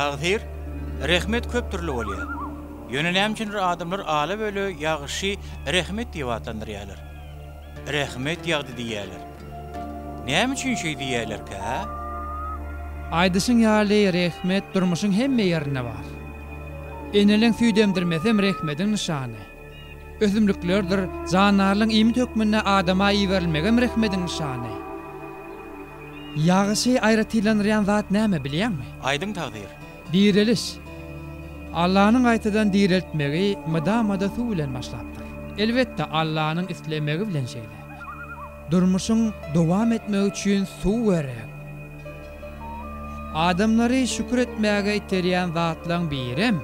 Tagsyr, rehmet köp dürli bolýar. Ýöne näme üçindir adamlar ala-böle ýagşy rehmet diýip atlandyrýarlar. Rehmet ýagdy diýýärler. Näme üçin şeý diýýälerkä? Aýdyşyň ýaly rehmet durmuşyň hemme ýerinde bar. Eneleň süýt emdirmesem rehmediň nyşany. Ösümliklerdir jandarlaň iýmit hökmünde adama iberilmegem rehmediň nyşany. Ýagşy aýratynlandyrýan zat näme bilýäňmi? Aýdyň Takdyr. Direliş. Allanyň gaýtadan direltmegi mydama-da suw bilen başlapdyr. Elbetde Allanyň islemegi bilen şeýle. Durmuşyň dowam etmegi üçin suw gerek. Adamlary şükür etmäge iterýän zatlaryň birem,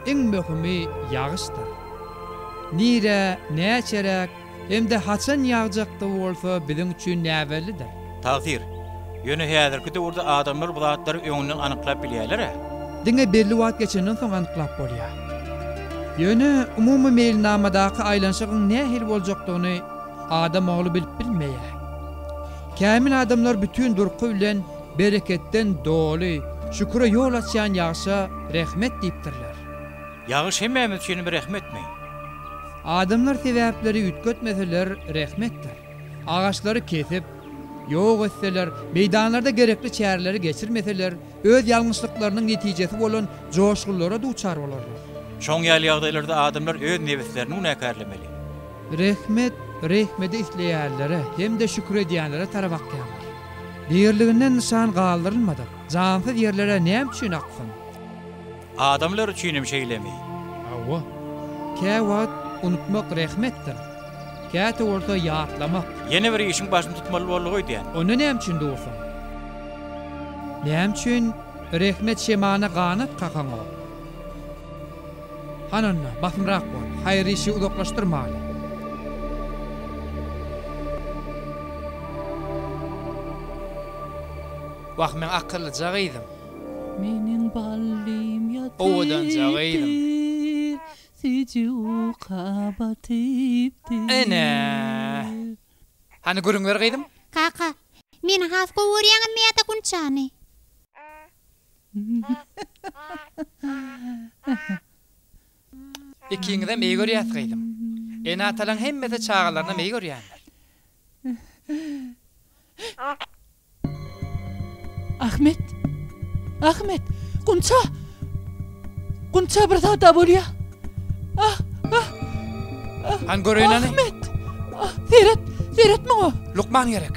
iň möhümi ýagyşdyr. Nirä, näçeräk hem-de haçan ýagjakdygy bolsa biziň üçin näbellidir. Tagsyr. Ýöne häzirki döwürde adamlar bu zatlary öňünden anyklap bilýärler-ä. Diňe belli wagt geçenden soň anyklap bolýar. Ýöne umumy meýilnamadaky aýlanyşygyň nähili boljakdygyny adam ogly bilip bilmeýär. Kämil adamlar bütin durky bilen bereketden doly, şüküre ýol açýan ýagşa rehmet diýipdirler. Ýagyş hemmämiz üçin bir rehmetmi? Adamlar sebäpleri üýtgetmeseler rehmetdir. Agaçlary kesip, ýok etseler, meýdanlarda gerekli çäreleri geçirmeseler, öz ýalňyşlyklarynyň netijesi bolan joşgunlara duçar bolarlar. Şoň ýaly ýagdaýlarda adamlar öz nebislerini günäkärlemeli. Rehmet, rehmedi isleýänlere hem-de şükür edýänlere tarap akýandyr. Birliginden nyşan galdyrylmadyk, jansyz ýerlere näme üçin aksyn? Adamlar üçinem şeýlemi? Hawa. Käwagt unutmak rehmetdir. Käte bolsa ýatlamak. Ýene bir işiň başyny tutmaly boldy öýdýän. Onda näme üçin dursaň? Näme üçin Rehmet Şemana ganat kakaňok? Hany onda, basymrak bol, haýyr işi uzaklaşdyrmaly. Wah, meň akyllyja gyzym. Meniň ballym ýatypdyr, süji uka batypdyr. Ene! Hany gürüňler gyzym? Kaka, meni has gowy görýäňizmi ýa-da Gunçany? Ikiňizem eý görýäs gyzym. Ene-atalaň hemmesi çagalarynam eý görýänler. Ahmet! Ahmet! Gunça! Gunça bir zada bolýa. Ah! Ah! Ah! Han göreýin hany. Ahmet! Ah! Seret! Seret muňa! Lukman gerek.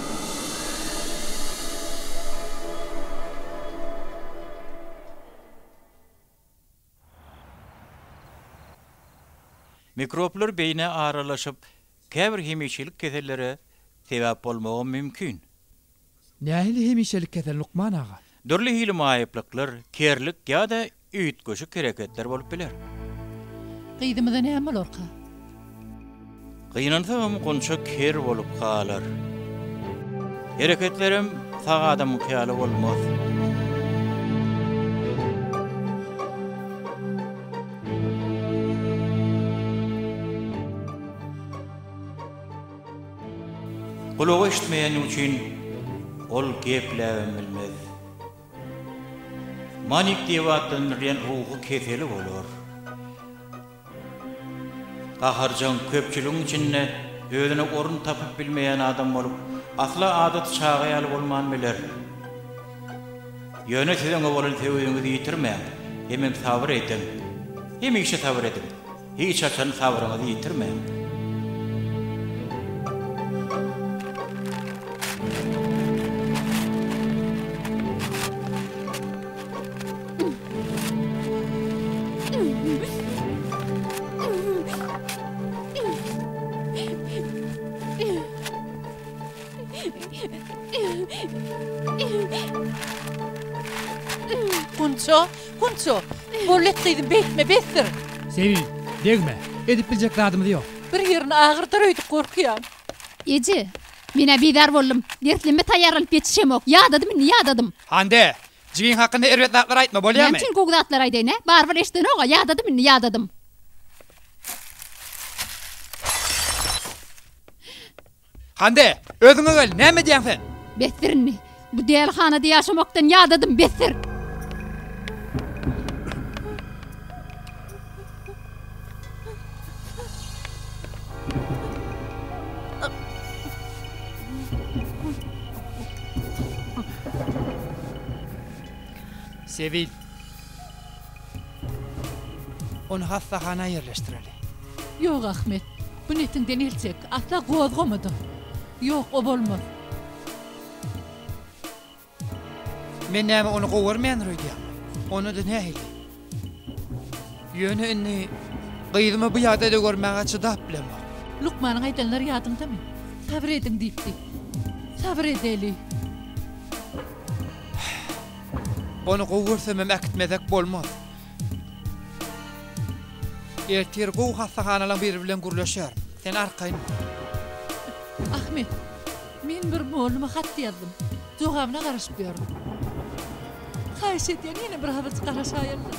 Mikroblar beýnä aralaşyp, käbir hemişelik kesellere sebäp bolmagam mümkin. Nähili hemişelik kesel lukman aga? Dürli hili maýyplyklar, kerlik ýa-da Üýtgeşik hereketler bolup biler. Gyzymyza näme bolarka? Gynansagam Gunça ker bolup galar. Hereketlerem sag adamyňky ýaly bolmaz. Gulagy eşitmeýäni üçin ol gepläbem bilmez. Manik diýip atlandyrylan ruhy keseli bolar. Gaharjaň, köpçüligiň içinde özüne orun tapyp bilmeýän adam bolup, asla adaty çaga ýaly bolman biler. Ýöne siz oňa bolan söýgiňizi ýitirmäň, hemem sabyr ediň. Hemişe sabyr ediň. Hiç haçan sabryňyzy ýitirmäň. Gunça Kunço, Bol et gyzym, beýtme, besdir! Sebil, Degme, edip biljek zadymyz ýok. Bir ýerini agyrdar öýdüp gorkýan. Eje, Men-ä bizar boldum. Dersleme taýýarlanyp ýetişemok. Ýadadym indi, ýadadym. Hande, jigiň hakynda erbet zatlar aýtma, bolýamy? Näme üçin gowy zatlar aýdaýyn-ä? Barybir eşidenog-a, ýadadym indi, ýadadym. Hande, özüňe gel, näme edýäň sen? Besdir indi! Bu dälihanada ýaşamakdan ýadadym, besdir! Sebil. Ony hassahana ýerleşdireli. Ýok, Ahmet. Gün etiňden el çek, asla gozgama-da. Ýok, o bolmaz. Men näme ony gowarmändir öýdýäň? Onda-da nähili? Ýöne indi gyzymy bu ýagdaýda görmäge çydap bilemok. Lukmanyň aýdanlary ýadyňdamy? Sabyr ediň diýipdi. Sabyr edeli. Ony gowy görsemem äkitmezek bolmaz. Ertir gowy hassahanalaň biri bilen gürleşer. Sen arkaýyn bol. Ahmet, men bir molluma hat ýazdym. Jogabyna garaşyp ýörün. Haýyş etýän ýene bir hazyrjyk garaşaýylda.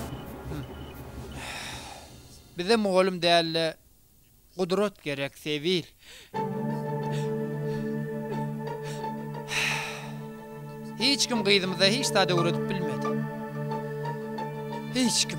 Bize mollum däl-de, Gudrat gerek sebil. Hiç kim gyzymyza hiç zat öwredip bilmedi. Hiç kim.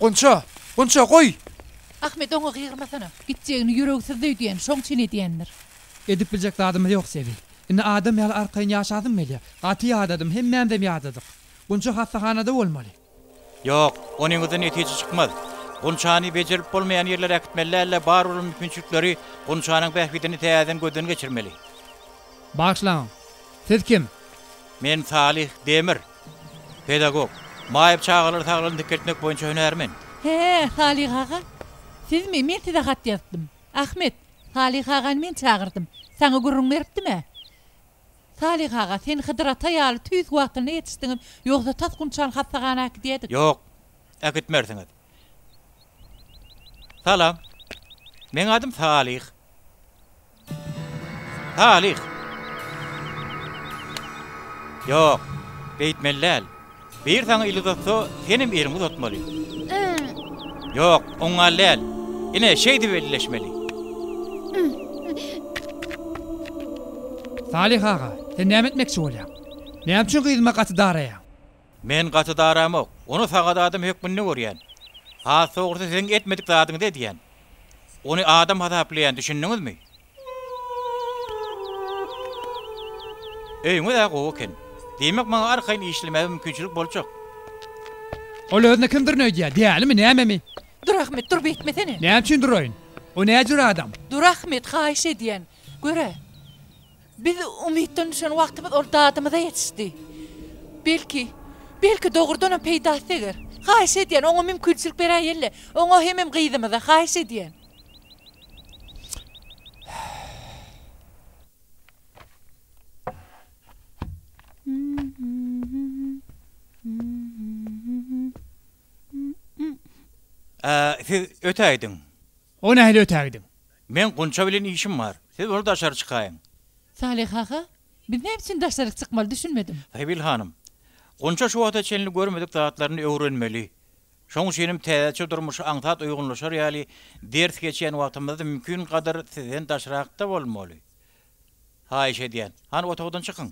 Gunça, Gunça goý! Ahmet oňa gygyrmasana. Gitjegini ýüregsizdi öýdýän, şoň üçin edýändir. Edip biljek zadymyz ýok Sebi. Indi adam ýaly arkaýyn ýaşasym gelýär. Gaty ýadadym, hemmämizem ýadadyk. Gunça hassahanada bolmaly. Ýok, onyňyzda netije çykmaz. Gunçany bejerip bolmaýan ýerlere äkitmeli däl-de, bar bolan mümkinçilikleri Gunçanyň bähbidini täzeden gözden geçirmeli. Bagyşlaň, siz kim? Men Salyh Demir. Pedagog. Maýyp çagalary saglygyny dikeltmek boýunça hünärmen. Hä, Salyh aga? Sizmi? Men size hat ýazypdym. Ahmet, Salyh agany men çagyrdym. Saňa gürrüň beripdim-ä. Salyh aga, sen Hydyr ata ýaly tüýs wagtynda ýetişdiňiz, ýogsa tas gunçan hassahana äkidýädik. Ýok, äkitmersiňiz. Salam. Meň adym Salyh. Salyh! Ýok, beýtmeli däl. Bir saňa il uzatsa, senem eliňi uzatmaly. Ýok, oň gal däl. Ine, şeýdip elleşmeli. Salyh aga, sen näme etmekçi bolýaň? Näme üçin gyzyma gaty daraýaň? Men gaty daramok. Ony sagat adam hökmünde görýän. Has dogrusy siziň etmedik zadyňyzy edýän. Ony adam hasaplaýan, düşündiňizmi? Öýüňiz-ä gowy eken. Diýmek, maňa arkaýyn işlemäge mümkinçilik boljak. Ol özüne kimdirin öýdýär, dälimi, nämemi? Dur, Ahmet, dur, beýtmesene! Näme üçin duraýyn? O näjür adam? Dur, Ahmet, haýyş edýän. Gör-ä, biz umytdan düşen wagtymyz ol dadymyza ýetişdi. Belki, belki dogrudanam peýdasy deger. Haýyş edýän, oňa mümkinçilik beräýeli. Oňa hemem gyzymyza, haýyş edýän. Siz ötäýdiň. O nähili ötäýdiň? Men Gunça bilen işim bar. Siz bol daşary çykaýyň. Salyh aga, biz näme üçin daşaryk çykmaly düşünmedim. Sabil hanym, Gunça şu wagta çenli görmedik zatlaryny öwrenmeli. Şoň üçin hem täzeçe durmuşa aňsat uýgunlaşar ýaly ders geçýän wagtymyzda mümkin gadyr sizden daşrakda bolmaly. Haýyş edýän, hany otagdan çykyň!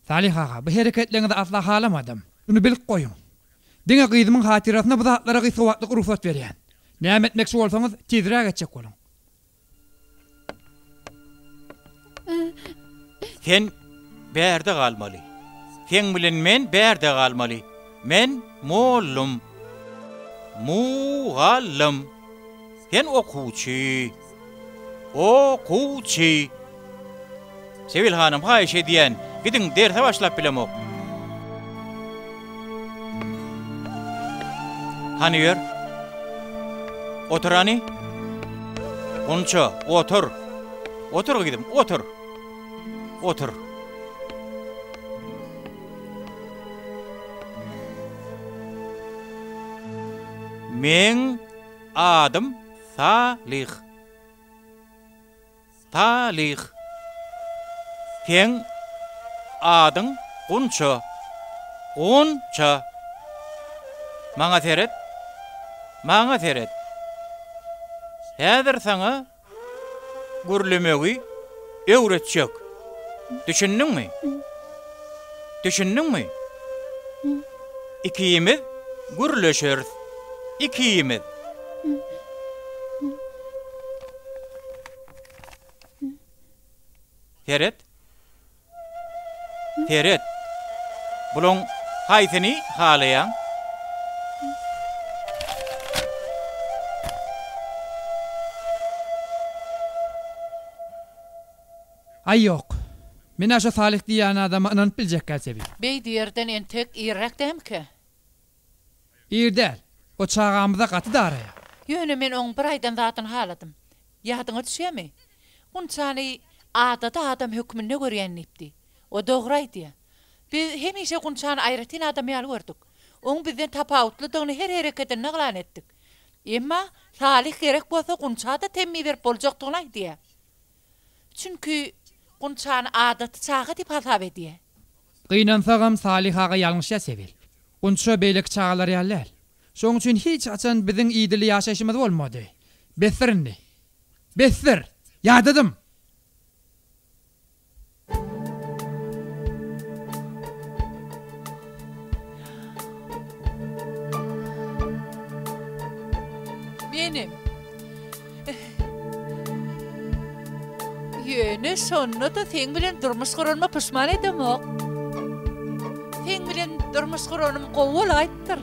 Salyh aga, bu hereketleriňizi asla halamadym. Şuny bilip goýuň. Diňe gyzymyň hatyrasyna bu zatlara gysga wagtlyk rugsat berýän. Näme etmekçi bolsaňyz, tizräk etjek boluň. Sen bärde galmaly. Seň bilen men bärde galmaly. Men mollum. Mu-gallym. Sen okuwçy. O-kuw-çy. Sebil hanym haýyş edýän, gidiň derse başlap bilemok. Hany ýör. Otur hany. Gunça, otur. Otur gyzym, otur. Otur. Men adym Salih. Salyh. Seň adyň Gunça. Gun-ça. Maňa seret. Maňa seret. Häzir saňa gürlemegi öwretjek. Düşündiňmi? Düşündiňmi? Ikimiz gürleşeris. Ikimiz. Seret. Seret. Bulaň haýsyny halaýaň? Aý ýok. Men-ä şo Salyh diýýän adama ynanyp biljekgä çebit. Beýdi ýerden entek irräk dämikä? Ir däl. O çagamyza gaty daraýar. Ýöne men oň bir aýdan zadyny haladym. Ýadyňa düşýämi? Gunçany adaty adam hökmünde görýän diýipdi. O dogry aýdýa. Biz hemişe Gunçany aýratyn adam ýaly gördük. Oň bizden tapawutlydygyny her hereketinde yglan etdik. Emma Salyh gerek bolsa Gunça-da temmi berip boljakdygyny aýdýa. Çünki Gunçany adaty çaga diýip hasap edýär. Gynansagam Salyh aga ýalňyş ýasap bil. Gunça beýleki çagalar ýaly däl. Şoň üçin hiç haçan biziň idili ýaşaýşymyz bolmady. Besdir indi. Besdir! Ýadadym! Menem. Ýöne şonda-da seň bilen durmuş guranyma puşman edemok. Seň bilen durmuş guranym gowy bolaýypdyr.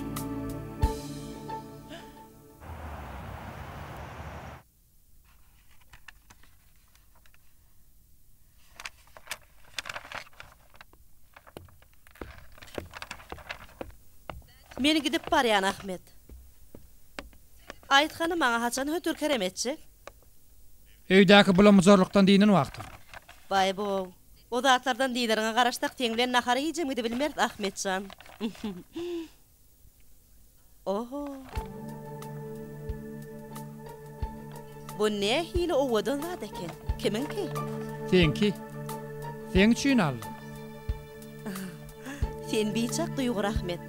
Men gidip barýan, Ahmet. Aýt hany, maňa haçan hötür kerem etjek? Öýdäki bulamujurlykdan dynan wagtyň. Baý-bow. O zatlardan dynaryňa garaşsak, seň bilen nahara hijem gidibilmeris, Ahmet jan. Oho! Bu nähili owadan zat eken? Kimiňki? Seňki. Seň üçin aldym. Sen biçak duýgy rahmet.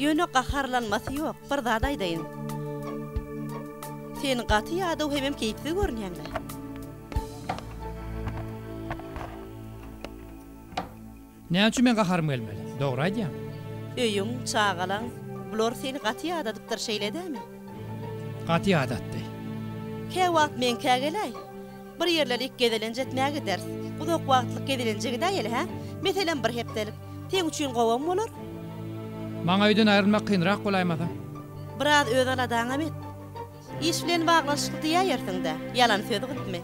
Ýöne gaharlanmasy ýok, bir zat aýdaýyn. Sen gaty ýadaw hemem keýpsiz görünýäň-le. Näme üçin meň gaharym gelmeli? Dogry aýdýaň. Öýüň, çagalaň, bular seni gaty ýadadypdyr, şeýle dämi? Gaty ýadatdy. Käwagt meňkä geläý. Bir ýerlerik gezelenç etmä gideris. Uzak wagtlyk gezelenje gidäýeli, hä? Meselem, bir hepdelik. Seň üçin gowam bolar. Maňa öýden aýrylmak kynrak bolaýmasa? Biraz öz aladaňam et. Iş bilen baglanyşykly diýäýersiň-dä, ýalan söz gytmy?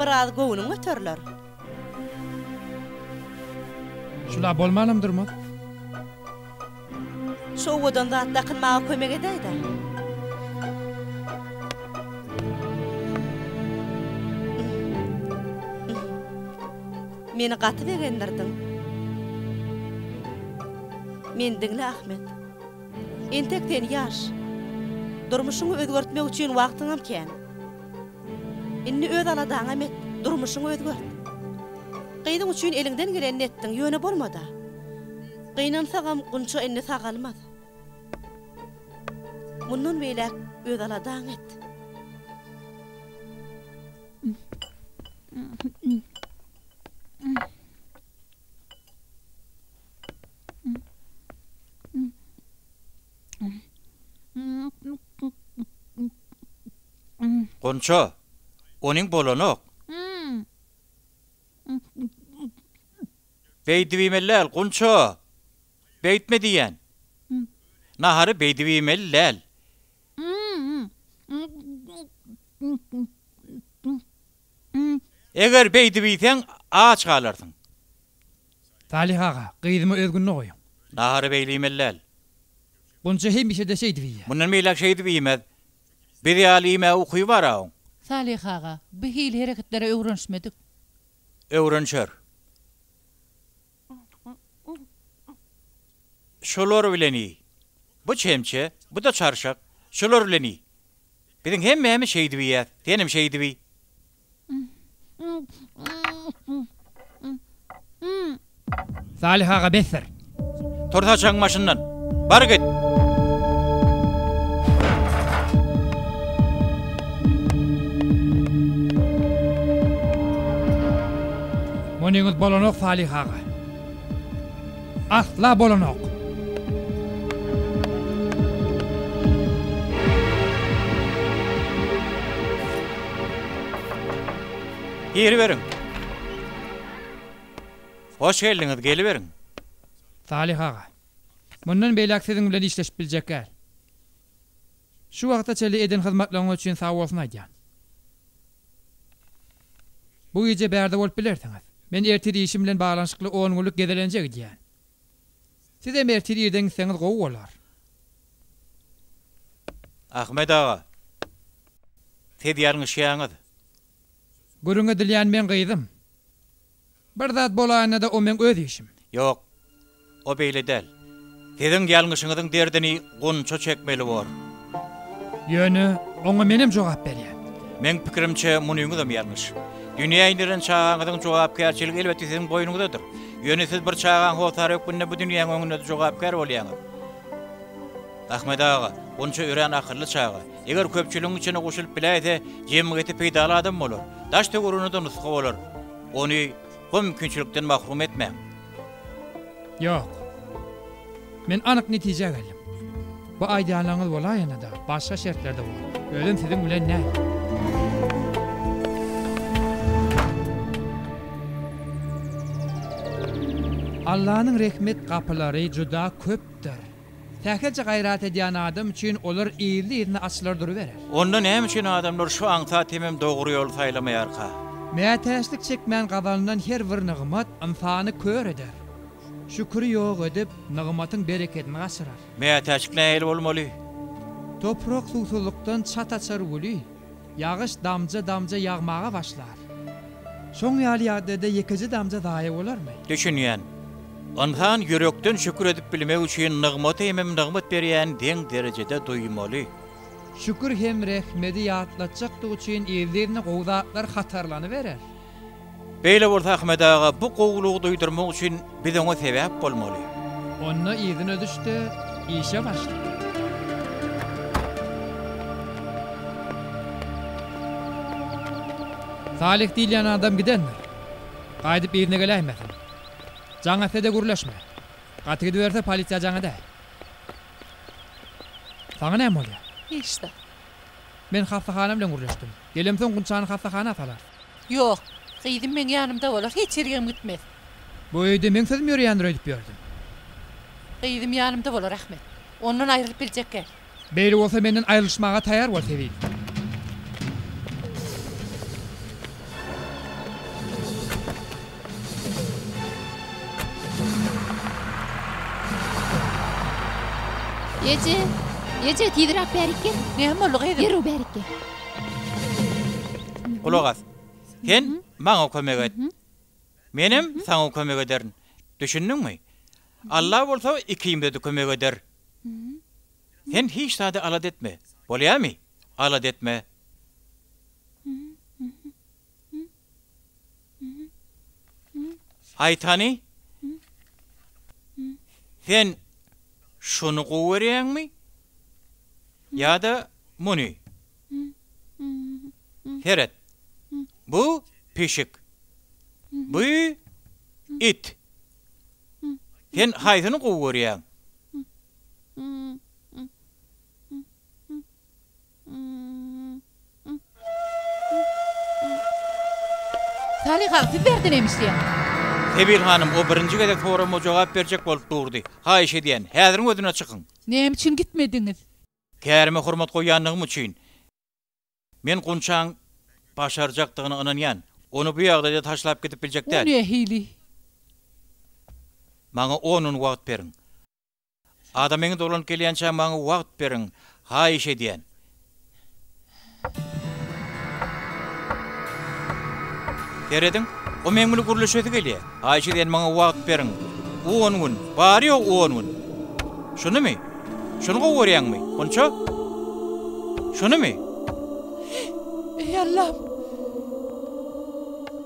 Biraz göwnüň göteriler. Şula bolmanam durmaz. Şu owadan zat dakynmaga kömek edäýdä. Meni gaty begendirdiň. Meni diňle, Ahmet. Entek sen ýaş. Durmuşyňy özgertmek üçin wagtyňam kän. Indi öz aladaňam et, durmuşyňy özgert. Gyzyň üçin eliňden gelenini etdiň, ýöne bolmada. Gynansagam Gunça indi sagalmaz. Mundan beýläk öz aladaňy et. Gunça, onyň bolanok. Beýdip iýmeliläl, Gunça! Beýtme diýýän! Nahary beýdip iýmeliläl. Eger beýdip iýseň, aç galarsyň. Salyh aga, gyzymy öz gününe goýuň. Nahary beýle iýmeliläl. Gunça hemişe-de şeýdip iýýär. Mundan beýläk şeýdip iýmez. Biz ýaly iýmäge uky bar-a oň. Salyh aga, bu hili hereketlere öwrenişmedik. Öwrenişer. Şolar bilen iý. Bu çemçe, bu-da çarşak. Şolar bilen iý. Biziň hemmämiz şeýdip iýýäs. Senem şeýdip iý. Salyh aga besdir. Tur saçagyň başyndan. Bar git. Monyňyz bolanok Salyh aga. Asla bolanok. Giriberiň. Hoş geldiňiz, geliberiň. Salyh aga. Mundan beýläk siziň bilen işleşip biljekgäl. Şu wagta çenli eden hyzmatlaryňyz üçin sag bolsun aýdýan. Bu gije bärde bolup bilersiňiz. Men ertir işim bilen baglanyşykly on günlük gezelenje gidýän. Sizem ertir irden gitseňiz gowy bolar. Ahmet aga. Siz ýalňyşýaňyz. Gürrüň edilýän men gyzym. Bir zat bolaýanda-da o meň öz işim. Ýok, o beýle däl. Siziň ýalňyşyňyzyň derdini Gunça çekmeli bor. Ýöne oňa menem jogap berýän. Meň pikirimçe munyňyzam ýalňyş. Dünýä indirilen çagaňyzyň jogapkärçiligi elbetde siziň boýnuňyzdadyr. Ýöne siz bir çagaň hossary hökmünde bu dünýäň öňünde-de jogapkär bolýaňyz. Ahmet aga, Gunça örän akylly çaga. Eger köpçüligiň içine goşulyp biläýse, jemgyýete peýdaly adam bolar. Daş-töweregine-de nusga bolar. Ony bu mümkinçilikden mahrum etmäň. Ýok. Men anyk netijä geldim. Bu aýdýanlaryňyz bolaýanda-da, başga şertlerde bolar. Özem siziň bilen däl. Allanyň rehmet gapylary juda köpdür. Sähelçe gaýrat edýän adam üçin olar yzly-yzyna açylar duruberer. Onda näme üçin adamlar şu aňsat hemem dogry ýoly saýlamaýarka? Mätäçlik çekmän gazanylan her bir nygmat ynsany kör eder. Şüküri ýok edip, nygmatyň berekedini gaçyrar. Mätäçlik nähili bolmaly? Toprak suwsuzlykdan çat açar weli. Ýagyş damja-damja ýagmaga başlar. Şoň ýaly ýagdaýda ýekeje damja zaýa bolarmy? Düşünýän. Ynsan ýürekden şükür edip bilmek üçin nygmaty hemem nygmat berýäni deň derejede duýmaly. Şükür hem rehmedi ýatlatjakdygy üçin yzly-yzyna gowy zatlar hatarlanyberer. Beýle bolsa Ahmet aga bu gowulygy duýdurmak üçin biz oňa sebäp bolmaly. Onda yzyna düş-de, işe başla. Salyh diýilýän adam gidendir. Gaýdyp yzyna geläýmesin. Jaň etse-de gürleşme. Gaty gidiberse polisiýa jaň edäý. Saňa näme bolýar? Hiç zat. Men hassahana bilen gürleşdim. Gelemsoň Gunçany hassahana salar. Ýok. Gyzym meň ýanymda bolar, hiç ýerigem gitmez. Bu öýde meň sözüm ýöreýändir öýdüp ýördüm. Gyzym ýanymda bolar, Ahmet. Ondan aýrylyp biljekgä. Beýle bolsa menden aýrylyşmaga taýýar bol, tebigy. Eje! Eje, tizräk bärik gel! Näme boldy, gyzym? Derrew bärik gel! Gulak as. Sen maňa kömek et. Menem saňa kömek ederin. Düşündiňmi? Alla bolsa ikimize-de kömek eder. Sen hiç zady alada etme. Bolýamy? Alada etme. Aýtany, sen şuny gowy görýäňmi ýa-da muny? Seret, bu pişik, bu it. Sen haýsyny gowy görýäň? Salyha, siz bärde näme işleýäňiz? Sebil hanym o birinji gezek sorama jogap berjek bolup durdy. Haýyş edýän, häziriň özüne çykyň! Näme üçin gitmediňiz? Kärime hormat goýýandygym üçin. Men Gunçaň başarjakdygyna ynanýan. Ony bu ýagdaýda taşlap gidip biljek däl. O nähili? Maňa on gün wagt beriň. Ada meň dolanyp gelýänçä maňa wagt beriň, haýyş edýän. Serediň, o meň bilen gürleşesi gelýär. Haýyş edýän maňa wagt beriň. On gün, bary-ýogy on gün. Şunymy? Şuny gowy görýäňmi, Gunça? Şunymy? Eý Allam!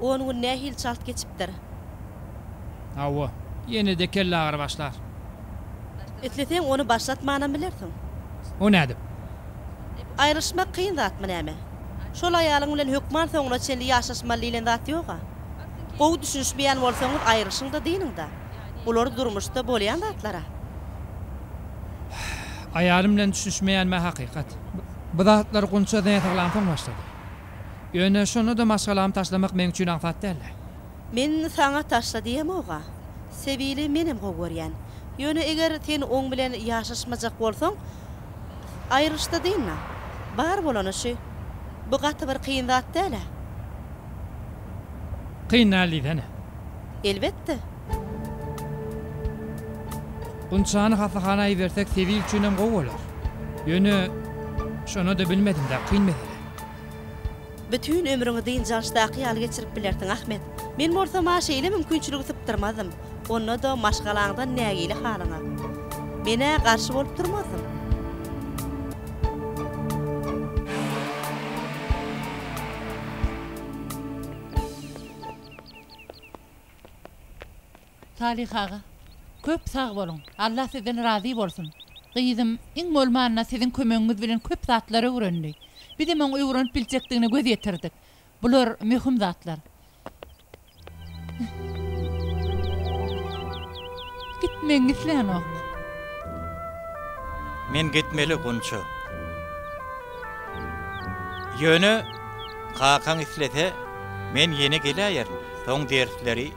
On gün nähili çalt geçipdir. Hawa, ýene-de kellagyry başlar. Isleseň, ony başlatmanam bilersiň. O nädip? Aýrylyşmak kyn zatmy näme? Şol aýalyň bilen hökman soňuna çenli ýaşaşmaly diýlen zat ýog-a. Gowy düşünişmeýän bolsaňyz aýrylyşyň-da dynyň-da. Bular durmuşda bolýan zatlar-a. Aýalym bilen düşünişmeýänmi hakykat. Bu zatlary Gunça zeýen saglansoň başladym. Ýöne şonda-da maşgalamy taşlamak meň üçin aňsat däldi. Men saňa taşla diýemog-a. Sebili menem gowy görýän. Ýöne eger sen oň bilen ýaşaşmajak bolsaň. Aýrylyşda dynma. Bar bolany şü. Bu gaty bir kyn zat däl-ä. Kyn däl diýsene. Elbetde. Gunçany hassahana ibersek Sewil üçinem gowy bolar. Ýöne, şonada bilmedim-dä, kyn mesele. Bütin ömrüňi dynç-alşdaky ýaly geçirip bilersiň, Ahmet. Men bolsam-a şeýle mümkinçiligi sypdyrmazdym. Onda-da maşgalaňdan nägile halyňa. Men-ä garşy bolup durmazdyň. Salyh aga, köp sag boluň. Allah sizden razy bolsun. Gyzym, iň bolmanda siziň kömegiňiz bilen köp zatlar öwrendi. Bizem oň öwrenip biljekdigine göz ýetirdik. Bular möhüm zatlar. Gitmegiňi islänok. Men gitmeli, Gunça. Ýöne kakaň islese, men ýene geläýerin. Soň dersleri.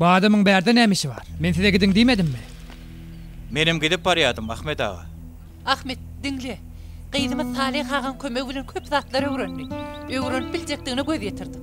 Bu adamyň bärde näme işi bar? Men size gidiň diýmedimmi? Menem gidip barýardym, Ahmet aga. Ahmet, diňle. Gyzymyz Salyh agaň kömegi bilen köp zatlar öwrendi. Öwrenip biljekdigine göz ýetirdik.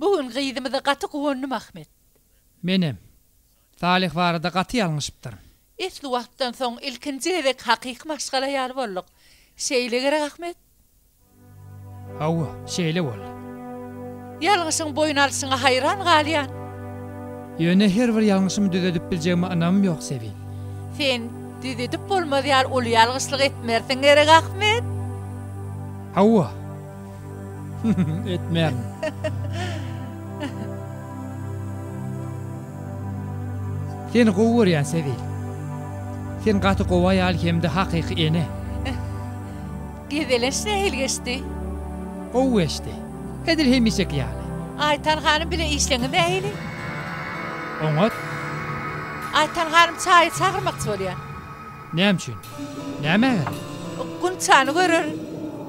Bu gün gyzymyza gaty guwandym Ahmet. Menem. Salyh barada gaty ýalňyşypdyr. Esli wagtdan soň ilkinji gezek hakyky maşgala ýaly bolduk. Şeýle gerek Ahmet? Hawa, şeýle boldy. Ýalňyşyň boýun alşyňa haýran galýan. Ýöne her bir ýalňyşymy düzedip biljegime ynamym ýok Sebin. Sen düzedip bolmaz ýaly uly ýalgyşlyk etmersiň gerek Ahmet? Hawa. Etmän. Seni gowy görýän Sebil. Sen gaty gowy aýal hem-de hakyky ene. Gezeleş nähili geçdi? Gowy geçdi. Edil hemişeki ýaly. Aýtan hanym bilen işleňiz nähili? Oňat. Aýtan hanym çaýy çagyrmakçy bolýar. Näme üçin? Nämä gerek? Gunçany görer.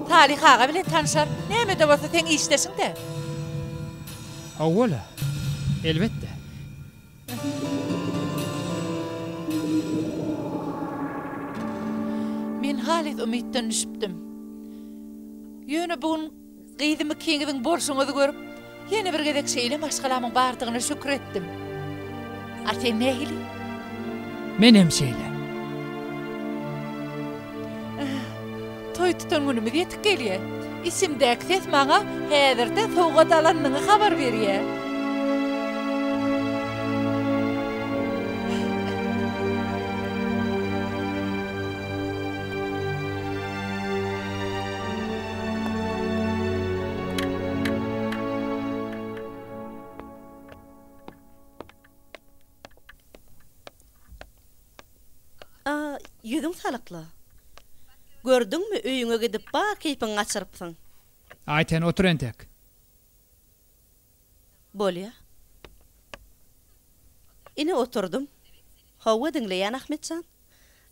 Salyh aga bilen tanşar. Näme-de bolsa seň işdeşiň-dä. Hawa-la. Elbetde. Men halys umytdan düşüpdim. Ýöne bu gün. Gyzym ikiňiziň bolşuňyzy görüp, ýene bir gezek şeýle maşgalamyň bardygyna şükür etdim. A sen nähili? Menem şeýle. Toý tutan günümiz ýetip gelýär. Içimdäki ses maňa häzirde sowgat alanyny habar berýär. Ýüzüň salykly. Gördüňmi, öýüňe gidip bar keýpiňi gaçyrypsyň. Aýten, otur entek. Bolýa. Ine, oturdym. Hawa, diňleýän, Ahmet jan.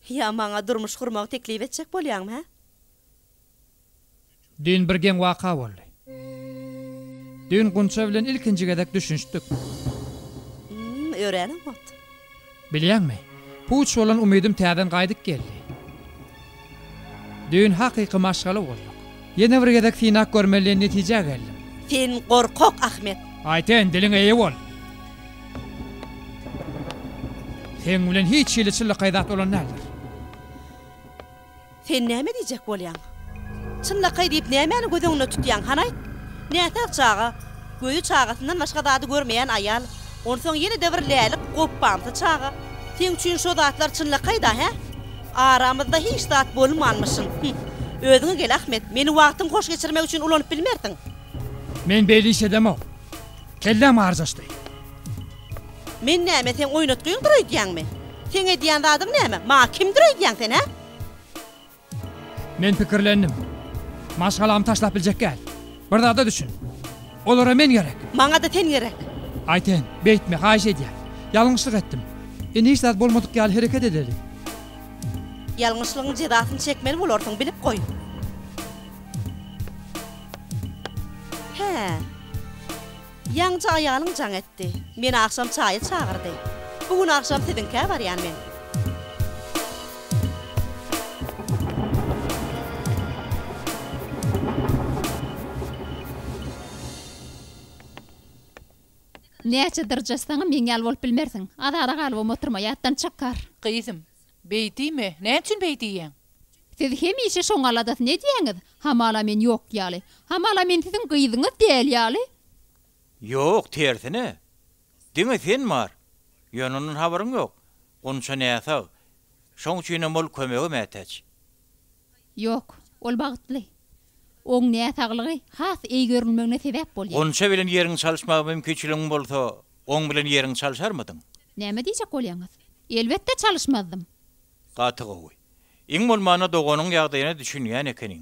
Ýa maňa durmuş gurmagy teklip etjek bolýaňmy, hä? Düýn bir geň waka boldy. Düýn Gunça bilen ilkinji gezek düşünişdik. Ým, örän oňat. Bilýäňmi, puç bolan umydym täzeden gaýdyp geldi. Düýn hakyky maşgala bolduk. Ýene bir gezek synap görmeli diýen netijä geldim. Sen gorkak, Ahmet! Aýten, diliňe eýe bol! Seň bilen hiç hili çyllykaý zat bolan däldir. Sen näme diýjek bolýaň? Çynlakaý diýip nämäni göz öňünde tutýaň, hany aýt? Näsag çaga, gözi çagasyndan başga zady görmeýän aýal, onsoň ýene-de bir lälik gopbamsy çaga. Seň üçin şo zatlar çynlakaý-da, hä? Aramyzda hiç zat bolmanmyşyn. Hüh. Özüňe gel, Ahmet, meni wagtyň hoş geçirmek üçin ulanyp bilmersiň. Men beýle iş edemok. Kelläm arjaşdy. Men näme seň oýnatgyňdyr öýdýäňmi? Seň edýän zadyň näme? Maňa kimdir öýdýäň sen, hä? Men pikirlendim. Maşgalamy taşlap biljek gäl. Bir zada düşün. Olara men gerek. Maňa-da sen gerek. Aýten, beýtme, haýyş edýän. Ýalňyşlyk etdim. Indi hiç zat bolmadyk ýaly hereket edeli. Ýalňyşlygyň jezasyny çekmeli bolarsyň, bilip goý. Hä. Ýaňja aýalyň jaň etdi. Meni agşam çaýa çagyrdy. Bu gün agşam siziňkä barýan men. Näçe dyrjaşsaňam meň ýaly bolup bilmersiň. Azada galybam oturma, ýatdan çykar. Gyzym, Beýtdiými? Näçün beý diýýäň? Siz hemişe şoň aladasyny edýäňiz. Hamala men ýok ýaly. Hamala men siziň gyzyňyz däl ýaly. Ýok, tersine. Diňe sen bar. Ýöne ondan habaryň ýok. Gunça näsag. Şoň üçinem ol kömege mätäç. Ýok, ol bagtly. Oň näsaglygy has eý görülmegine sebäp bolýar. Gunça bilen ýeriň çalyşmaga mümkinçiligiň bolsa, oň bilen ýeriň çalyşarmydyň? Näme diýjek bolýaňyz? Elbetde çalyşmazdym. Gaty gowy. Iň bolmanda doganyň ýagdaýyna düşünýän ekeniň.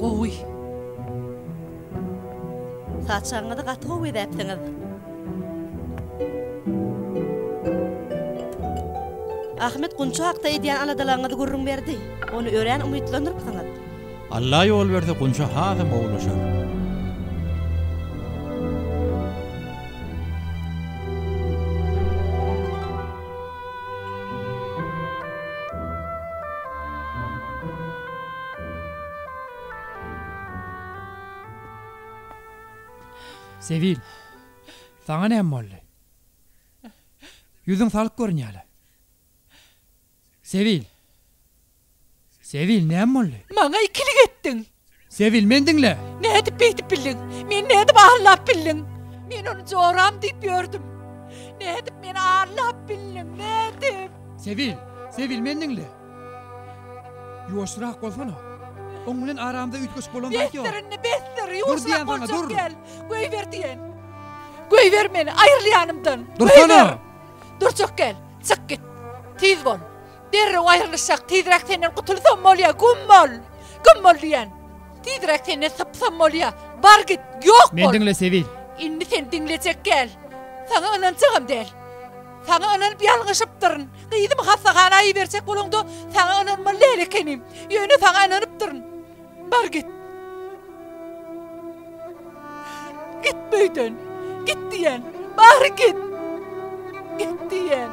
Gowy. Saçagyňyzy gaty gowy bezäpsiňiz. Ahmet Gunça hakda edýän aladalaryňyzy gürrüň berdi. Ony örän umytlandyrpsyňyz. Alla ýol berse Gunça hasam gowulaşar. Sebil, saňa näme boldy? Ýüzüň salyk görünýär-le. Sebil! Sebil, näme boldy? Maňa ikilik etdiň! Sebil, meni diňle! Nädip beýdip bildiň? Meni nädip allap bildiň? Men ony joram diýip ýördüm. Nädip meni allap bildiň? Nädip? Sebil, Sebil, meni diňle! Ýuwaşrak bolsana! Oň bilen aramyzda üýtgeşik bolan zat ýok. Besdir indi, besdir! Ýuwaşrak boljak däl! Goýber diýen! Goýber meni! Aýryl ýanymdan! Dursana! Durjak gel! Çyk git! Tiz bol! Derrew aýrylyşak tizräk senden gutulsam bolýa gummol gummol diýen tizräk senden sypsam bolýa bar git ýok bol Men diňle Sebil. Indi sen diňlejek gel saňa ynanjagam däl saňa ynanyp ýalňyşypdyryn gyzymy hassahana iberjek bolanda saňa ynanmaly däl ekenim ýöne saňa ynanypdyryn Bar git! Git bu öýden! Git diýýän! Bar git! Git diýýän!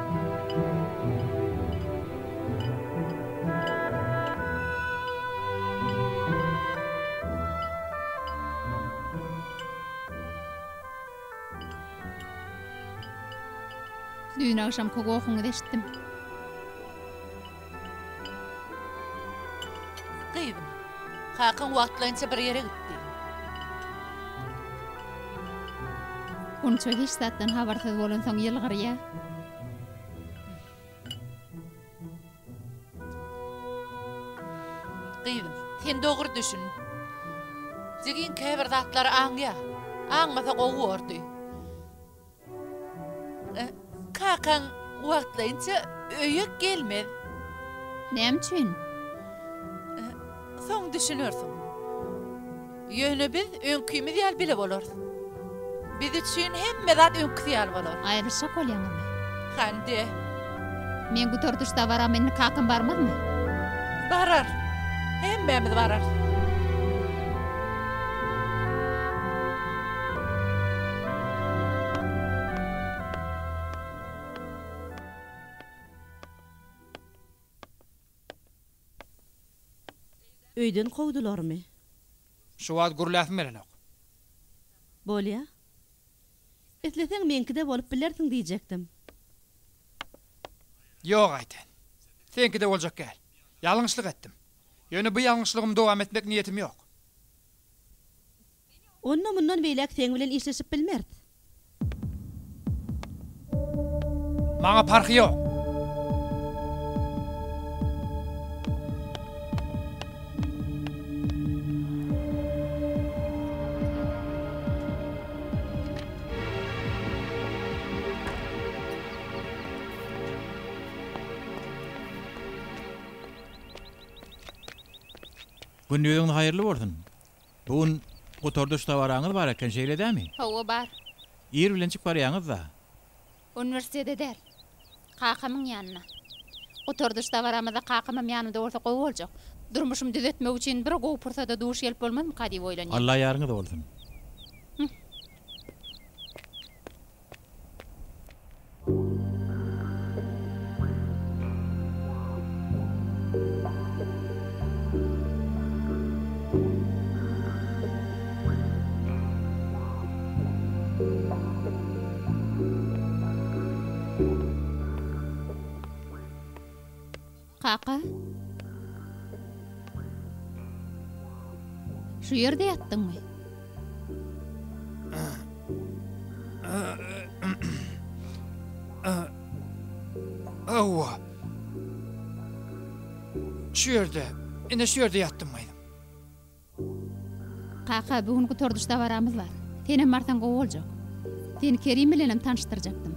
Düýn agşamky gohuňyzy eşitdim. Gyzym, kakaň wagtlaýynça bir ýere gitdi. Gunça hiç zatdan habarsyz bolansoň ýylgyrýa. Gyzym, sen dogry düşün. Jigim käbir zatlary aňýa. Aňmasa gowy bordy. Kakaň wagtlaýynça öýe gelmez. Näme üçin? Soň düşünersiň. Ýöne biz öňkimiz ýaly bile bolarys. Biz üçin hemme zat öňküsi ýaly bolar. Aýrylyşjak bolýaňyzmy? Hande. Men gutardyşda baram indi kakam barmazmy. Barar. Hemmämiz bararys. Öýden kowdularmy? Şu wagt gürläsim gelenok. Bolýa. Isleseň meňkide bolup bilersiň diýjekdim. Ýok Aýten. Seňkide boljak gäl. Ýalňyşlyk etdim. Ýöne bu ýalňyşlygymy dowam etmek niýetim ýok. Onda mundan beýläk seň bilen işleşip bilmeris. Maňa parhy ýok. Gündiziňiz haýyrly bolsun. Bu gün gutardyş dabaraňyz bar eken, şeýle dämi? Hawa, bar. Ir bilenjik barýaňyz-da. Uniwersitete däl. Kakamyň ýanyna. Gutardyş dabaramyzda kakamam ýanymda bolsa gowy boljak. Durmuşymy düzetmek üçin bir gowy pursada duş gelip bolmazmyka diýip oýlanýan. Alla ýaryňyz bolsun. Kaka. Şu ýerde ýatdyňmy? Hawa. Şu ýerde, ine şu ýerde ýatdym, gaýnym. Kaka, bu gün gutardyş dabaramyz bar. Senem barsaň gowy boljak. Seni Kerim bilenem tanyşdyrjakdym.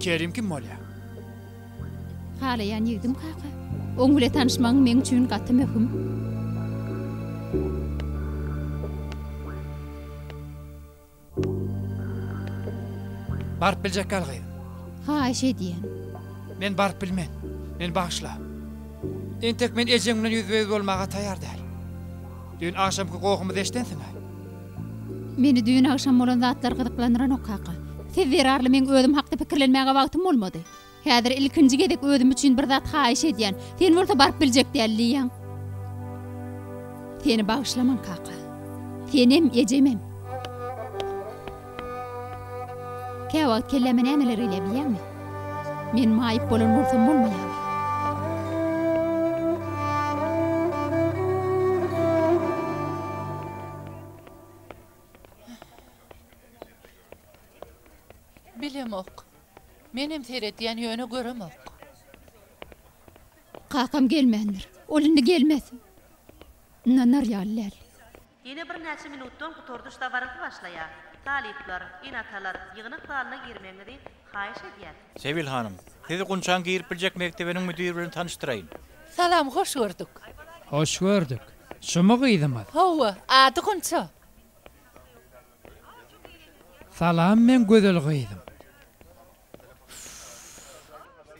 Kerim kim bolýar? Halaýan ýigdim, kaka. Oň bile tanyşmagyň meň üçin gaty möhüm. Baryp biljek ýalgy. Haýyş edýän. Men baryp bilmen. Meni bagyşla. Entek men ejeň bilen ýüzbe-ýüz bolmaga taýýar däl. Düýn agşamky gohumy deşdensiň-ä. Meni düýn agşam bolan zatlar gyzyklandyranok, kaka. Siz zerarly meň özüm hakda pikirlenmäge wagtym bolmady. Häzir ilkinji gezek özüm üçin bir zat haýyş edýän. Sen bolsa baryp biljek däl diýýäň. Seni bagyşlaman, kaka. Senem, ejemem. Käwagt kelläme nämeler gelýär bilýäňmi? Men maýyp bolan bolsam bolmaýarmy? Bilemok. Menem seredýän, ýöne göremok. Kakam gelmändir. Ol indi gelmez. Ynanar ýaly däl. Ýene birnäçe minutdan gutardyş dabarasy başlaýar. Talyplar, ene-atalar, ýygnak zalyna girmegiňizi haýyş edýäs. Sebil hanym, sizi Gunçaň girip biljek mekdebiniň müdiri bilen tanyşdyraýyn. Salam, hoş gördük. Hoş gördük. Şumy gyzymyz? Hawa, ady Gunça. Salam men gözel gyzym.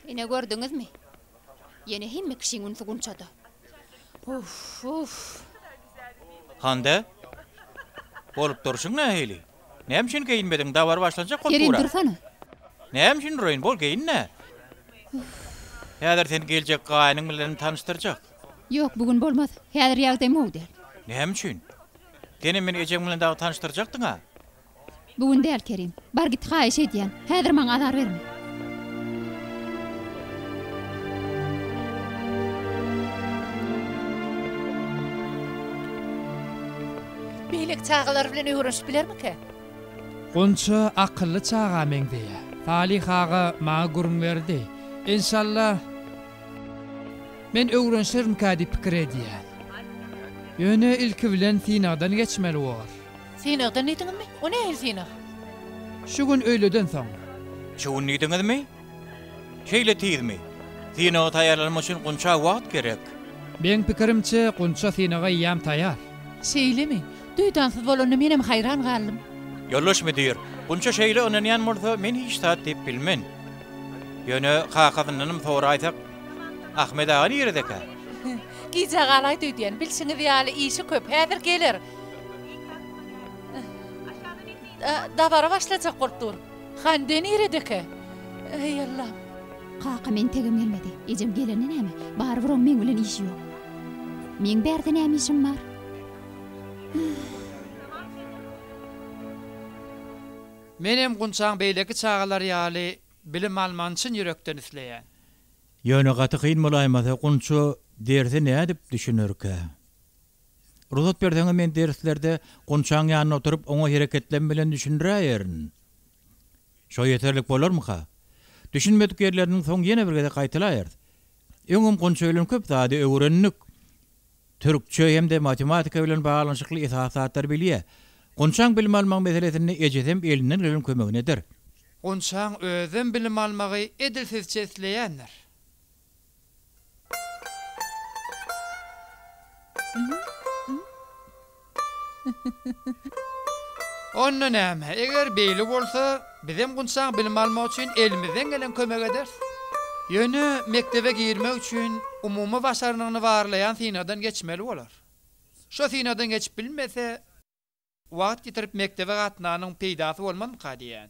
Ine gördüňizmi? Ýene hemme kişiň ünsi Gunçada. Uff, uff. Hande? Bolup durşuň nähili? Näme üçin geýinmediň? Dabara başlanjak bolup Kerim dursana. Näme üçin duraýyn? Bol geýin-dä. Häzir seni geljek gaýynyň bilen tanyşdyrjak. Ýok, bu gün bolmaz. Häzir ýagdaý mugt däl. Näme üçin? Senem meni ejeň bilen dagy tanyşdyrjakdyň-a? Bu gün däl, Kerim. Bar git, haýyş edýän. Häzir maňa azar berme. Beýleki çagalar bilen öwrenişip bilermikä? Gunça akylly çaga meňzeýär. Salyh aga maňa gürrüň berdi. Enşalla. Men öwrenşermikä diýip pikir edýän. Ýöne ilki bilen synagdan geçmeli bor. Synagdan diýdiňizmi? O nähili synag? Şu gün öýleden soň. Şu gün diýdiňizmi? Şeýle tizmi? Synaga taýýarlanmak üçin gunça wagt gerek. Meň pikirimçe, gunça synaga eýýäm taýýar. Şeýlemi? Duýdansyz bolanda menem haýran galdym. Ýoldaş müdir, gunça şeýle ynanýan bolsa, men hiç zat diýip bilmen. Ýöne kakasyndanam soraýsak, Ahmet aga niredekä? Gijä galaýdy öýdýän. Bilşiňiz ýaly, işi köp. Häzir geler. Dabara başlajak bolup dur. Hande niredekä? Eý, Allam! Kaka meň tegim gelmedi. Ejem gelende näme? Barybir oň meň bilen işi ýok. Meň bärde näme işim bar? Menem Gunçaň beýleki çagalar ýaly bilim almagyny çyn ýürekden isleýän. Ýöne gaty kyn bolaýmasa Gunça derse nädip düşünerkä? Rugsat berseňiz men derslerde Gunçaň ýanynda oturyp oňa hereketlem bilen düşündiräýerin. Şo ýeterlik bolarmyka? Düşünmedik ýerleriniň soň ýene bir gezek gaýtalaýarys. Öňem Gunça bilen köp zady öwrendik. Türkçe hem-de matematika bilen baglanyşykly esasy zatlary bilýär. Gunçaň bilim almagyň meselesinde ejesem elinden gelen kömegini eder. Gunçaň özem bilim almagy edil sizçe isleýändir. Onda näme, eger beýle bolsa, bizem Gunçaň bilim almak üçin elimizden gelen kömegi ederis. Ýöne mekdebe girmek üçin umumy başarnygyny barlaýan synagdan geçmeli bolar. Şo synagdan geçip bilmese, wagt ýitirip mekdebe gatnanyň peýdasy bolmazmyka diýýän.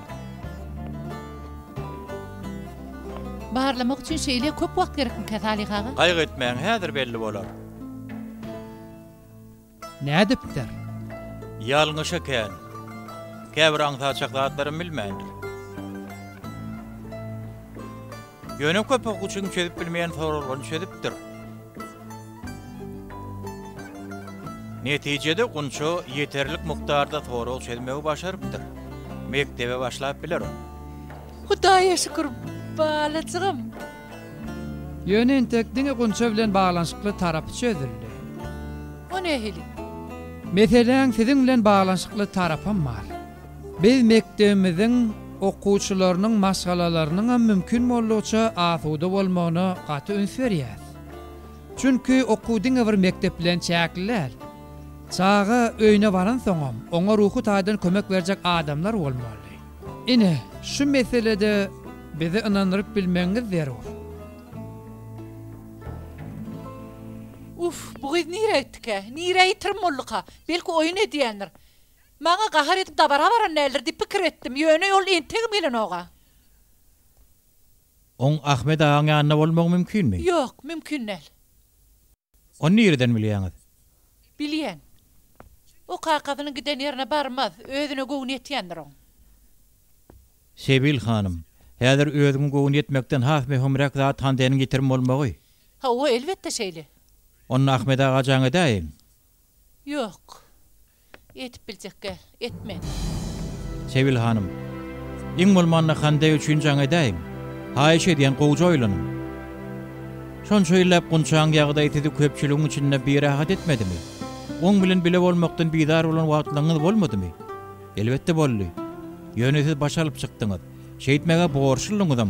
Barlamak üçin şeýle köp wagt gerekmikä Salyh aga? Gaýgy etmäň häzir belli bolar. Nädipdir? Ýalňyş ekän. Käbir aňsaçak zatlaram bilmändir. Ýöne köpek üçin çözüp bilmeýän soralryny çözüpdir. Netijede gunça ýeterlik mukdarda sorag çözmegi başarypdyr. Mekdebe başlap biler ol. Hudaýa şükür, balajygym! Ýöne entek diňe gunça bilen baglanyşykly tarapy çözüldi. O nähili? Meseläň siziň bilen baglanyşykly tarapam bar. Biz mekdebimiziň okuwçylarynyň maşgalalarynyňam mümkin boldugyça asuda bolmagyna gaty üns berýäs. Çünki okuw diňe bir mekdep bilen çäkli däl. Çaga öýüne baransoňam, oňa ruhy taýdan kömek berjek adamlar bolmaly. Ine, şu meselede bizi ynandyryp bilmegiňiz zerur. Uff, bu gyz nirä gitdikä? Nirä ýitirim bolduka? Belki oýun edýändir. Maňa gahar edip dabara baran däldir diýip pikir etdim. Ýöne ol entegem gelenok-a. Oň Ahmet agaň ýanynda bolmagy mümkinmi? Ýok, mümkin däl. Ony nireden bilýäňiz? Bilýän. O kakasynyň giden ýerine barmaz, özüne göwni ýetýändir oň. Sebil hanym, häzir özüňe göwni ýetmekden has möhümräk zat Handeniň ýitirim bolmagy. Hawa, elbetde şeýle. Onda Ahmet aga jaň edäýiň. Ýok. Etip biljek gel. Etme. Sebil hanym. Iň bolmanda Hande üçin jaň edäýiň. Haýyş edýän gowja oýlanyň. Şonça ýyllap Gunçaň ýagdaýy sizi köpçüligiň içinde birahat etmedimi? Oň bilen bile bolmakdan bizar bolan wagtlaňyz bolmadymy? Elbetde boldy. Ýöne siz baş alyp çykdyňyz. Şeýtmäge borçludyňyzam.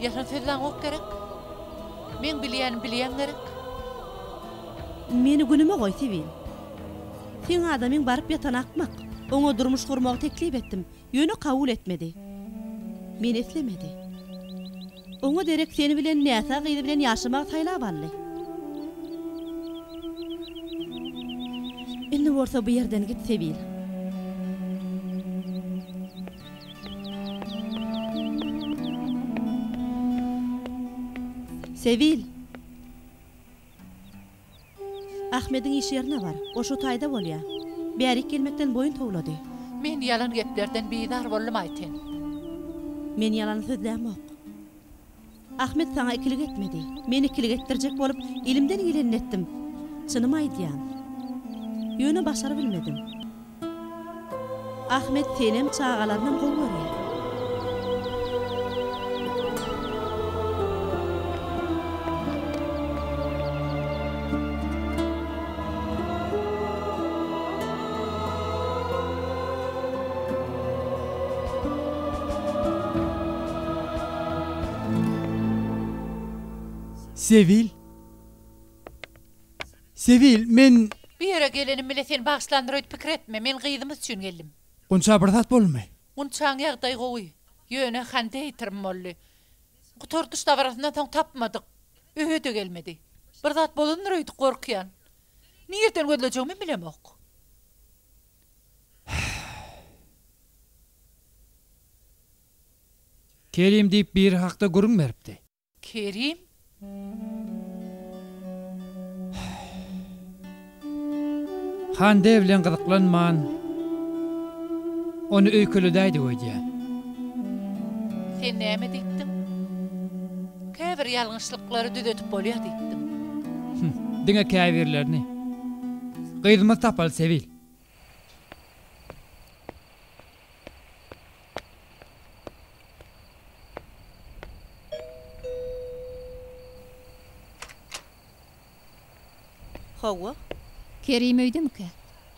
Ýalan sözlän gop gerek. Meň bilýänim bilýän gerek. Meni günüme goý Sibil. Seň adamyň baryp ýatan akmak. Oňa durmuş gurmagy teklip etdim. Ýöne kabul etmedi. Meni islemedi. Oňa derek sen bilen näsag gyz bilen ýaşamagy saýlap aldy. Indi bolsa bu ýerden git Sibil. Sewil! Ahmediň iş ýerine bar. Ol şo taýda bolýar. Bärik gelmekden boýun towlady. Men ýalan geplerden bizar boldum aýtyn. Men ýalany sözlämok. Ahmet saňa ikilik etmedi. Men ikilik etdirjek bolup, elimden gelenini etdim. Çynymy aýdýan. Ýöne başarybilmedim. Ahmet senem, çagalarynam gowy görýär. Sewil! Sewil, men. Bu ýere gelenim bile seni bagyşlandyr öýt pikir etme, men gyzymyz üçin geldim. Gunça, bir zat boldumy? Gunçaň ýagdaýy gowy. Ýöne konditerim boldy. Gutardyş dabarasyndan soň tapmadyk. Öýe-de gelmedi. Bir zat bolandyr öýdüp gorkýan. Nireden gözlejegimi bilemok. Kerim diýip biri hakda gürrüň beripdi. Kerim? Hande bilen gyzyklanman, ony öýkeledäýdik öýdýän. Sen näme diýipdiň? Käbir ýalňyşlyklary düzedip bolýar diýipdiň. Hüm, diňe käbirlerini. Gyzymyz tapaly, Sebil. Hawa. Kerim öýdemikä?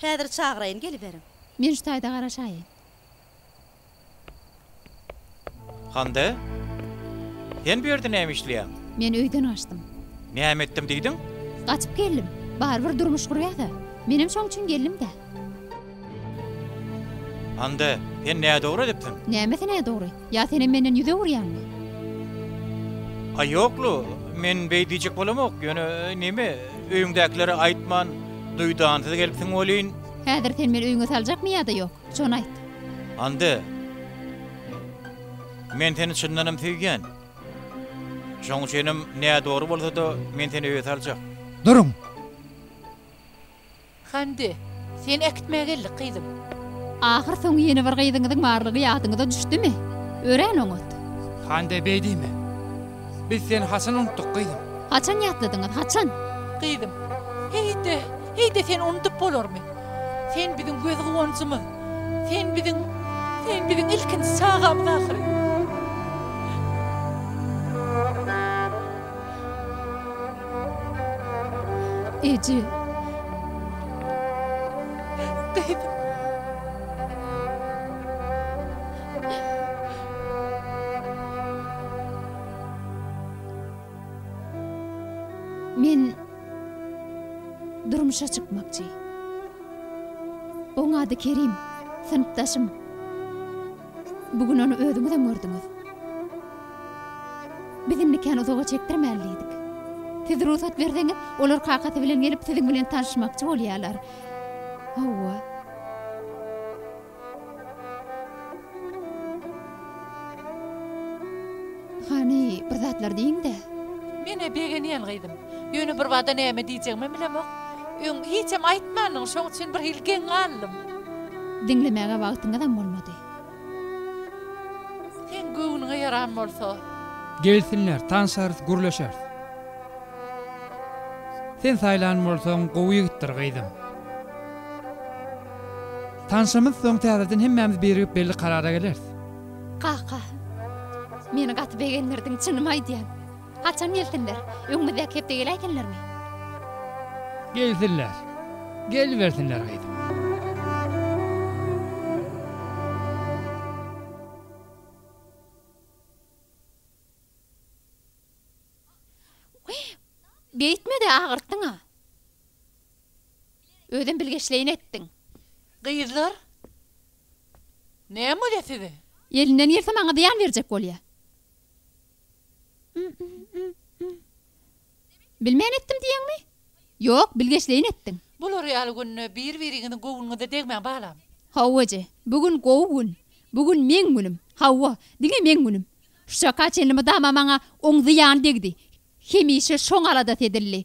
Häzir çagyraýyn geliberiň. Men şu taýda garaşaýyn. Hande? Sen bu ýerde näme işleýäň? Men öýden gaçdym. Näme etdim diýdiň? Gaçyp geldim. Barybir durmuş gurýas-a. Menem şoň üçin geldim-dä. Hande, sen nädogry edipsiň. Nämesi nädogry? Ýa senem menden ýüz öwürýäňmi? A ýoklu, men beý diýjek bolamok, ýöne neme, öýüňdäkilere aýtman, duýdansyz gelipsiň welin. Häzir sen meni öýüňe saljakmy ýa-da ýok? Şony aýt. Hande. Men seni çyndanam söýýän. Şoň üçinem nädogry bolsa-da men seni öýe saljak. Duruň! Hande. Seni äkitmäge geldik, gyzym. Ahyr soňy ýene bir gyzyňyzyň barlygy ýadyňyza düşdümi? Örän oňat. Hande beý diýme. Biz seni haçan unutdyk, gyzym? Haçan ýatladyňyz, haçan? Gyzym. Heý-de! Heý-de seni unudyp bolarmy? Sen biziň göz guwanjymyz. Sen biziň, sen biziň ilkinji çagamyz ahyry. Eje. Gyzym. Men Durmuşa çykmakçy. Oň ady Kerim, synpdaşym. Bu gün ony özüňizem gördüňiz. Biz indi kän uzaga çekdirmäli diýdik. Siz rugsat berseňiz, olar kakasy bilen gelip, siziň bilen tanyşmakçy bolýarlar. Hawa. Hany, bir zatlar diýiň-de! Men-ä begenýän, gyzym. Ýöne birbada näme diýjegimem bilemok. Öň hiçem aýtmandyň, şoň üçin birhili geň galdym. Diňlemäge wagtyňyzam bolmady. Seň göwnüňe ýaran bolsa. Gelsinler, tanşarys, gürleşeris. Sen saýlan bolsaň, gowy ýigitdir, gyzym. Tanşymyz soň täzeden hemmämiz birigip belli karara geleris. Kaka. Meni gaty begendirdiň çynymy aýdýan. Haçan gelsinler? Öňümizdäki hepde geläýsinlermi? Gelsinler. Gelibersinler gyzym. Beýtmede agyrtdyňa. Özem bilgeşleýin etdiň. Gyzlar, näme bolýa size? Elinden gelse maňa zyýan berjek bolýa. Bilmän etdim diýeňmi? Ýok, bilgeşleýin etdiň. Bular ýaly günde bir-biriňiziň göwnüňize degmäň balam. Hawa eje, bu gün gowy gün. Bu gün meň günüm. Hawa, diňe meň günüm. Şuçaka çenli mydama maňa oň zyýany degdi. Hemişe şoň aladasy edildi.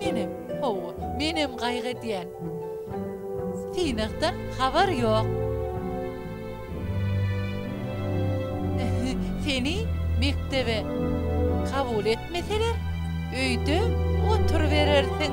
Menem, hawa, menem gaýgy edýän. Synakdan habar ýok. Seni mekdebe kabul etmeseler, öýde oturyberersiň.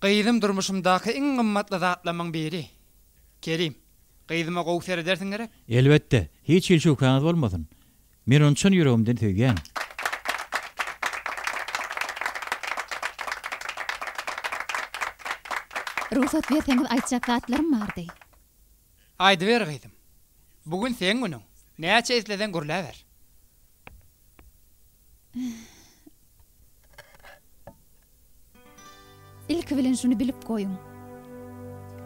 Gyzym durmuşymdaky iň gymmatly zatlamyň biri. Kerim, gyzyma gowy seredersiň gerek? Elbetde, hiç hili şübhäňiz bolmasyn. Men ony çyn ýüregimden söýýän. Rugsat berseňiz aýtjak zatlarym bardy. Aýdyber gyzym. Bu gün seň günüň. Näçe isleseň gürläber. Ilki bilen şuny bilip goýuň.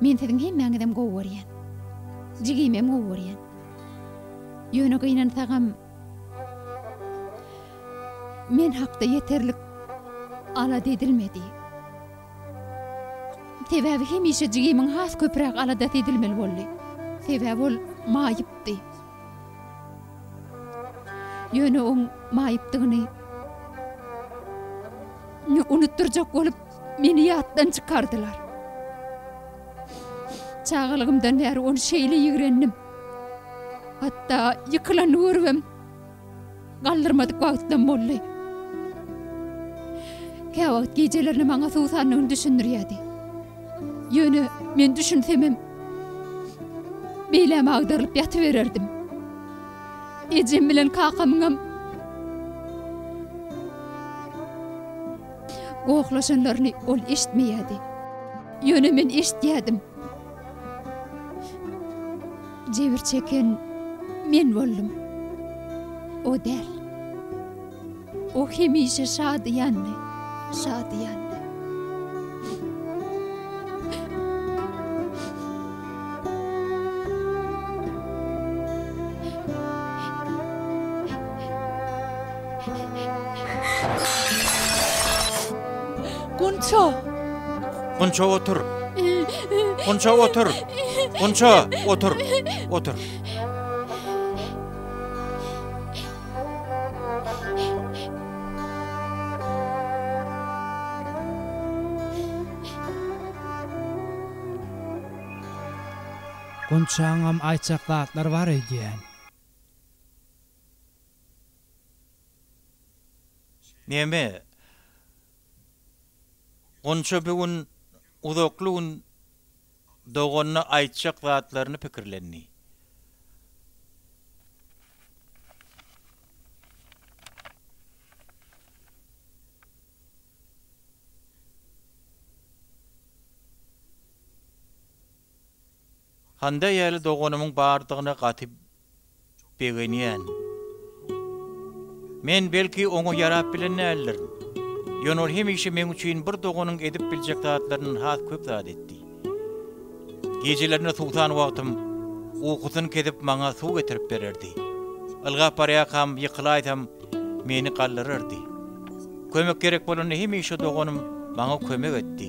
Men siziň hemmäňizem gowy görýän. Jigimem gowy görýän. Ýöne gynansagam men hakda ýeterlik alada edilmedi. Sebäbi hemişe jigimiň has köpräk aladasy edilmeli boldy. Sebäbi ol maýypdy. Ýöne oň maýypdygyny unutdyrjak bolup, meni ýatdan çykardylar. Çagalygymdan bäri ony şeýle ýigrendim. Hatda ýykylanyny görübem. Galdyrmadyk wagtlam boldy. Käwagt gijelerine maňa suwsanlygyny düşündirýärdi. Ýöne men düşünsemem, beýläme agdarylyp ýatybererdim. Ejem bilen kakamyňam gohlaşanlaryny ol eşitmeýärdi. Ýöne men eşitýärdim. Jebir çeken men boldum. O däl. O hemişe şadyýandy, şadyýan. Gunça! Gunça otur. Gunça otur. Gunça otur. Otur. Gunçaňam aýtjak zatlar bar öýdýän. Neme, Gunça bu gün uzakly gün doganyna aýtjak zatlaryny pikirlendi. Hande ýaly doganymyň bardygyna gaty begenýän. Men belki oňa ýarap bilen däldirin. Ýöne ol hemişe meň üçin bir doganyň edip biljek zatlaryndan has köp zat etdi. Gijelerine suwsan wagtym ukusyny kesip maňa suw getirip bererdi. Ylgap barýarkam ýykylaýsam meni galdyrardy. Kömek gerek bolanda hemişe doganym maňa kömek etdi.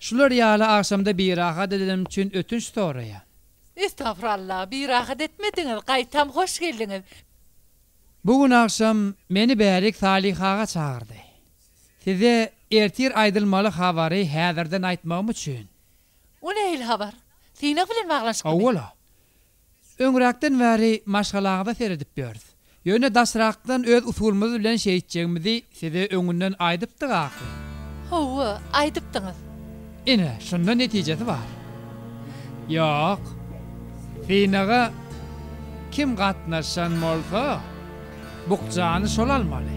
Şular ýaly agşamda birahat edenim üçin ötünç soraýan. Estagfurallah birahat etmediňiz gaýtam hoş geldiňiz. Bu gün agşam meni Bärik Salyhaga çagyrdy. Size ertir aýdylmaly habary häzirden aýtmagym üçin. O nähili habar? Synag bilen baglanyşyklymy? Owala. Öňräkden bäri maşgalaňyza seredip ýörüs. Ýöne daşrakdan öz usulymyz bilen şeýtjegimizi size öňünden aýdypdyk ahyry. Hawa, aýdypdyňyz. Ine, şunda netijesi bar. Ýok, synaga kim gatnaşan bolsa. Bukjany şol almaly.